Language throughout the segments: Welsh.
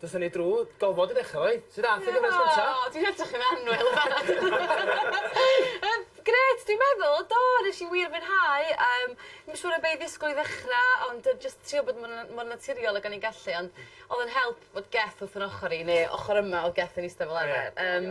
Do's hynny drw. Gofod i ddechra 'fo 'i. Sud ath y gyfres gynta? O dwi'n edrych yn annwyl. Yym grêt dwi'n meddwl do nes i wir fwynhau yym ddim yn siŵr o be' i ddisgwl i ddechra ond yy jyst trio bod mor na- mor naturiol ag o'n i'n gallu ond o'dd yn help fod Geth wrth 'yn ochor i ne' ochor yma o Geth yn ista fel arfer yym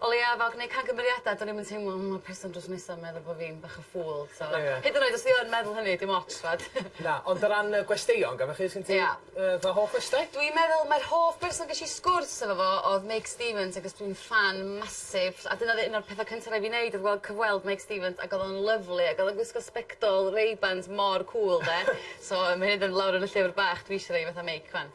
O leia fel gneud camgymeriada do'n i'm yn teimlo o ma'r person drws nesa 'n meddwl bo' fi'n bach o fool so... Ie. ...hyd yn oed os 'di o yn meddwl hynny dim ots t'mod? Na ond o ran y gwesteion gafo chi sgin ti... Ia. ...yy fel hoff gwestai? Dwi'n meddwl mae'r hoff berson gesh i sgwrs efo fo odd Meic Stevens agos dwi'n ffan massive a dyna o'dd un o'r petha cynta rai' fi neud odd gweld cyfweld Meic Stevens ag o'dd o'n lyfli ag o'dd o'n gwisgo sbectol Ray-Bans mor cŵl 'de so ma' hyn yn mynd lawr yn y llyfr bach dwi isio rei fatha Meic 'wan.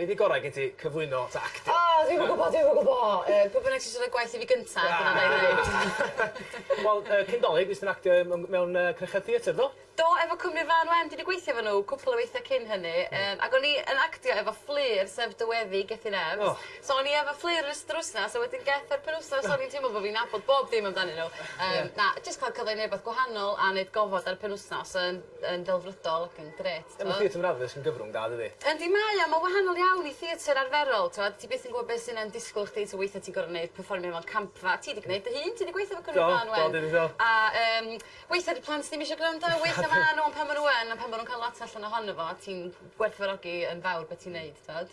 Be di gorau gen ti, cyflwyno ta actio? O dwi'm yn gwbo dwi'm yn gwbo yy pwy bynnag sy isio roi gwaith i fi gynta dyna wnai neud. Wel yy cyn 'Dolig fues ti'n actio yy mewn mewn yy cnecha theatr do? Do efo cwmni Frân Wen dwi 'di gweithio efo n'w cwpwl o weithie cyn hynny yym ag o'n i yn actio efo Fflur sef dy weddi Gethin Evans. O! So o'n i efo Fflur yr ystod yr wsnos a wedyn geth yr penwsnos o'n i'n teimlo bo' fi'n nabod bob dim amdanyn n'w yym na jyst ca'l cyfle i neu' wbath gwahanol a neud gofod ar y penwsnos yn yn ddelfrydol ac yn grêt t'mo'? Ie ma' theatr Manaddus yn gyfrwng da dydi? Yndi mae o ma'n wahanol iawn i theatr arferol t'wod ti byth yn gwbo be' sy 'na'n disgwl chdi so weithia' ti'n gor'o' neud perfformio mewn campfa ti 'di gneud dy hun ti 'di gweitho efo Cymry Mân ŵan. Do do dwi 'di do. A yym weithia' 'di plant ddim isio grando a weithia' ma' n'w on' pan ma' n'w yn on' pan ma' nw'n ca'l lot allan ohono fo ti'n gwerthfawrogi yn fawr be' ti'n neud t'od?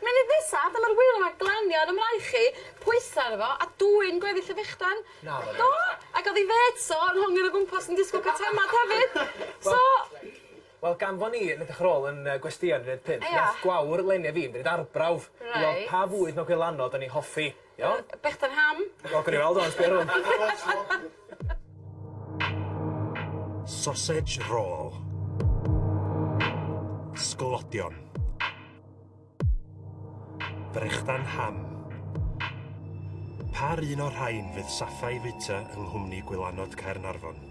Munud nesa, dyma'r ŵyl yma glanio ar 'y mraich i, pwytho arno fo, a dwyn gweddill y fechdan. Naddo. Do! Ac o'dd 'i fêts o yn hongian o gwmpas yn disgwl ca'l temad hefyd. So... Wel gan fo ni yn edrych ar ôl yn yy gwestyau yn rhif pump... Ia. ...nath gwawr leni a fi mynd i'r arbrawf. Reit. I weld pa fwyd mewn gwirlanod o'n i hoffi. Iawn? Yy bechdan ham. Wel gawn ni weld ŵan sbia rŵan. Sausage roll. Sglodion. Brechdan ham. Pa'r un o'r rhain fydd saffau fwyta yng nghwmni gwylanod Caernarfon?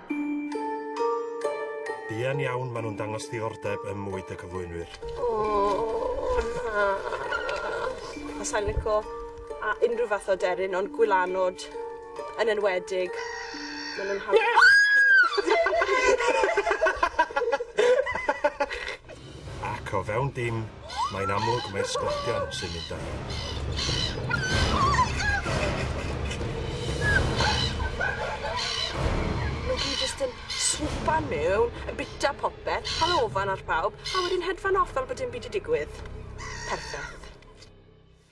Buan iawn maen nhw'n dangos ddiddordeb ym mwyd y cyflwynwyr. O na! A sa'n lico a- unrhyw fath o aderyn ond gwylanod yn enwedig. Ma' nw'n hawdd... Ac o fewn dim, mae'n amlwg mai'r sglodion sy'n mynd â hi. Mae hi jyst yn swpa mewn, yn bita popeth, hala ofan ar pawb, a wedyn hedfan off fel bod dim byd 'di digwydd. Perffaith.